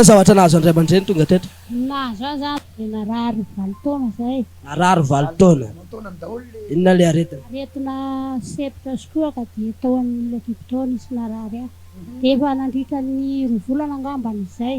Inona zavatra nahazo an-dray aman-dreny tonga teto? Nahazo ahy zany dia narary valo taona zay. Narary valo taona. Inona ilay aretina? Aretina sepitra sy kohaka dia tao amin'ilay dikotao nisy narary ahy. Dia efa nandritra ny roa volana angambany izay.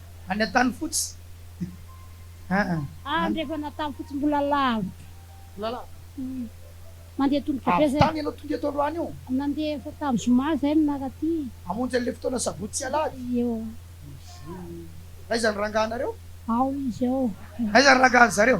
Any Antanifotsy aa. Any rehefa any Antanifotsy mbola lavitra. Mbola lavitra. Mandeha tongotra be zay. Avy tany ianao tonga eto androany io? Nandeha efa tamin'ny zoma zay no naka aty. Hamonjy an'ilay fotoana sabotsy sy alahady? Eo. Aiza ny rangahanareo? Ao izy ao. Aiza ny rangahan'zareo?